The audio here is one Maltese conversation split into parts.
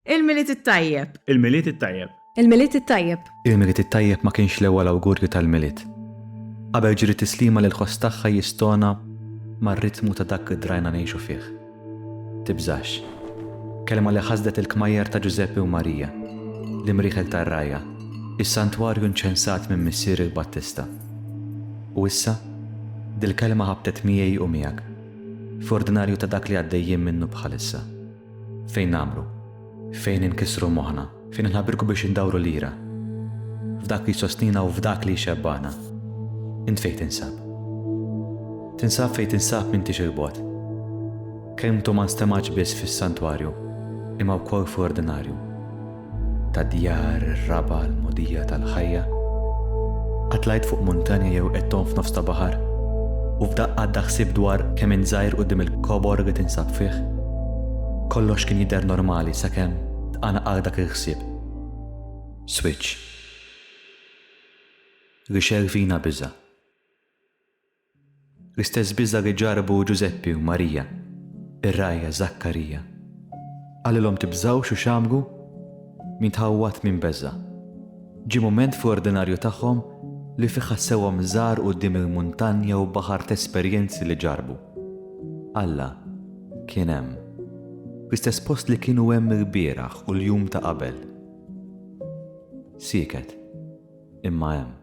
Il-Milied it-Tajjeb! Il-Milied it-Tajjeb! Il-Milied it-Tajjeb! Il-Milied it-Tajjeb ma kienx l-ewwel awgurju tal-Milied. Qabel ġiri tislima li l-ħoss tagħha jistona mar-ritmu ta' dak li drajna ngħixu fih. Tibżax. Kelma li ħasdet il-kmajjar ta' Ġużeppi u Marija, l-imrieħel tar-rgħajja, is-santwarju nċensat minn Missier il-Battista. U issa, dil-kelma ħabtet miegħi u miegħek, f'ordinarju ta' dak li għaddejjin minnu bħalissa. Fejn nagħmlu? Fejn inkissru moħħna? Fejn inħabirku biex indawru l-ira? F'dak li jsostnina u f'dak li jxebbana. Int fejn tinsab? Tinsab fejn tinsab m'intix il-bot. Kelmtu ma nstemax biss fis-santwarju, imma wkoll fl-ordinarju. ta' djar ir-raba' l-mogħdija tal-ħajja, qatt tlajt fuq muntanja jew qed tgħum f'nofs ta' baħar, u f'daqqa għadda ħsieb dwar kemm int żgħir quddiem il-kobor li tinsab fih? Kollox kien jidher normali sakemm tqanqal dak il-ħsieb. Switch. Rixel fina biża'. L-istess biża' li ġarrbu Ġużeppi u Marija, ir-ragħajja Żakkarija. Qalilhom tibżgħux u x'għamlu? Min tħawwad min beża'. Ġie mument fl-ordinarju tagħhom li fih ħassewhom żgħar quddiem il-muntanja u baħar t'esperjenzi li ġarrbu. Alla kien hemm. Fl-istess post li kienu hemm ilbieraħ u l-jum ta' qabel. Sieket, imma hemm.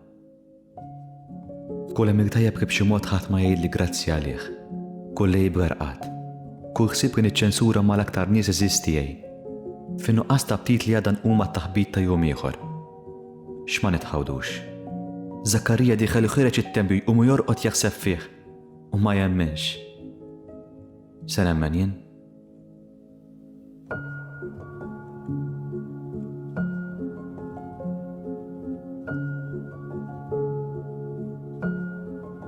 Kull għemil tajjeb li b'xi mod ħadd ma jgħidli grazzi għalih. Kull għib rerqat. Kull ħsieb li niċċensura mal-aktar nies għeżież tiegħi. Fin-nuqqas ta' ptit li għada nqum għat-taħbit ta' jum ieħor. X'ma nitħawdux. Żakkarija dieħel iħireġ it-tempju jqumu jorqod jaħseb fih u ma jemminx. Se nemmen jien?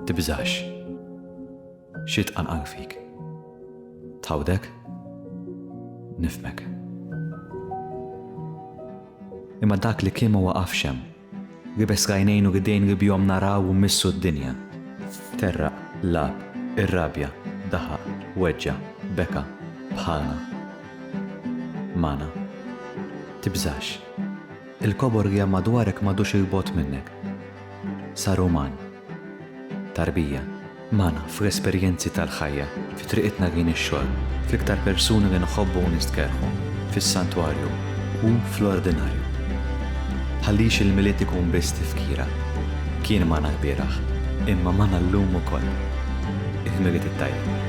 Tibżax. Xi tqanqan fik. Tħawdek? Nifmek. Imma dak li kien ma waqafx hemm. Gibes l-għajnejn u l-idejn li bihom naraw u mmissu d-dinja. Terraq, lagħab, irrabja, daħaq, weġġa', beka, bħalna. Magħna. Tibżax. Il-kobor li hemm madwarek m'għadux 'il bogħod minnek. Sar uman. Tarbija, Magħna fl-esperjenzi tal-ħajja, fi triqitna lejn ix-xogħol, fl-iktar persuni li nħobbu u nistkerrħu, fis-santwarju u fl-ordinarju. Tħallix il-Milied ikun biss tifkira. Kien magħna lbieraħ, imma magħna llum ukoll. Il-Milied it-Tajjeb.